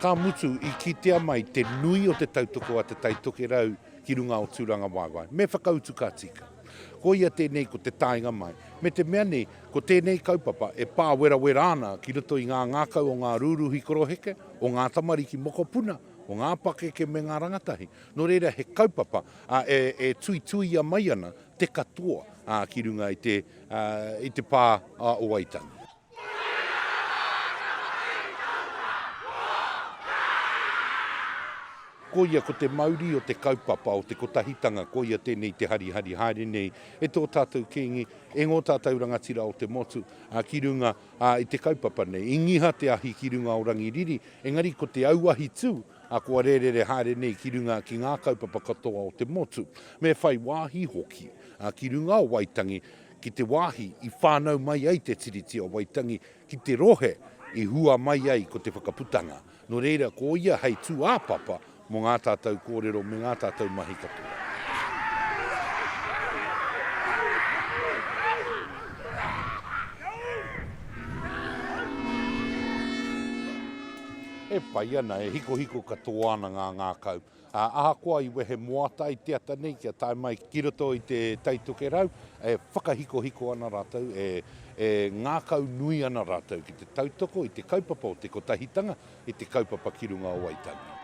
Ka mutu, i kitea mai te nui o te tautoko a Te Tai Tokerau ki runga o Tūrangawaewae, me whakautu ka tika. Koia tēnei ko te taenga mai, me te mea nei, ko tēnei kaupapa e pāwerawera ana ki roto i ngā ngākau o ngā rūruhi koroheke, o ngā tamariki mokopuna, o ngā pakeke me ngā rangatahi. Nō reira, he kaupapa e tuituia mai ana te katoa ki runga i te. i te pā a Owaitanga. Koia ko te mauri o te kaupapa o te kotahitanga, koia tēnei te harihari haere nei e tō tātou Kīngi, e ngō tātou rangatira o te motu ki runga i te kaupapa nei. I ngiha te ahi ki runga o Rangiriri, engari ko te auahi tū A kua rērere haere nei ki runga ki ngā kaupapa katoa o te motu, me whai wāhi hoki ki runga o Waitangi ki te wāhi i whānau mai ai te Tiriti o Waitangi ki te rohe i hua mai ai ko te Whakaputanga. Nō reira, ko ia hei tūāpapa mō ngā tātou kōrero me ngā tātou mahi katoa. E pai ana, e hikohiko katoa ana ngā ngākau. Ā, ahakoa i wehe moata ai te ata nei kia tae mai ki roto i te Tai Tokerau, e whakahikohiko ana rātou, e, e ngākau nui ana rātou ki te tautoko i te kaupapa o te Kotahitanga, i te kaupapa ki runga o Waitangi.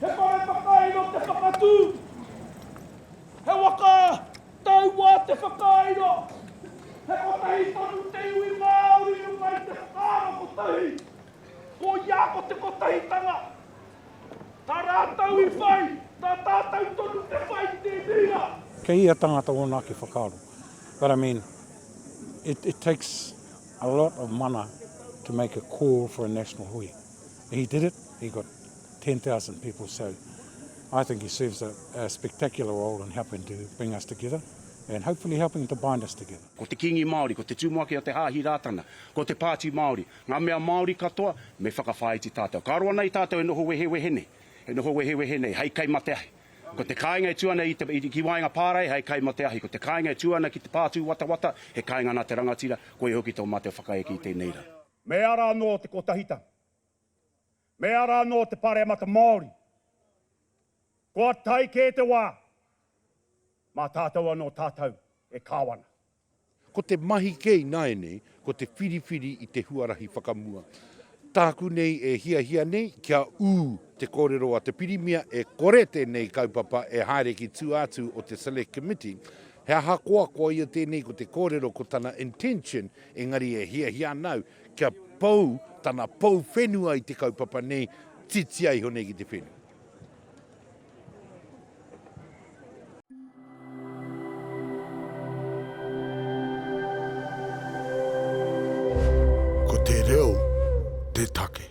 He whare whakairo te whakatū. He waka taua te whakairo. He kotahi tonu te iwi Māori runga i te whakaaro kotahi. Koia ko te kotahitanga. Tā rātou i whai, tā tātou tonu te whai i tēnei rā. Kei ia tangata ōna ake whakaaro. But I mean, it it takes a lot of mana to make a call for a national hui. He did it, he got 10,000 people so I think he serves a, a spectacular role in helping to bring us together and hopefully helping to bind us together. Ko te Kingi Māori, ko te Tumuaki o te Hāhi Rātana, ko te Pāti Māori, ngā mea Māori katoa, me whakawhāiti tātou. Ka roa nei tātou e noho wehewehe nei, e noho wehewehe nei, hei kai mā te ahi. Ko te kāinga e tū ana i te, i, ki waenga pārae, hei kai mā te ahi. Ko te kāinga e tū ana ki te pātūwatawata, he kāinga nā te rangatira, koia hoki tō mātou whakaeke i tēnei rā. Me ara anō te kotahitanga. Me ara anō te Pāremata Māori. Kua tae kē te wā, mā tātou anō tātou e kāwana. Ko te mahi kē ināianei, ko te whiriwhiri i te huarahi whakamua. Tāku nei e hiahia nei kia ū te kōrero a te Pirimia e kore tēnei kaupapa e haere ki tua atu o te Select Committee, he ahakoa koia tēnei ko te kōrero ko tana intention engari e hiahia ana au Kia pou tana pou whenua i te kaupapa nei, titia iho nei ki te whenua. Ko te reo te take.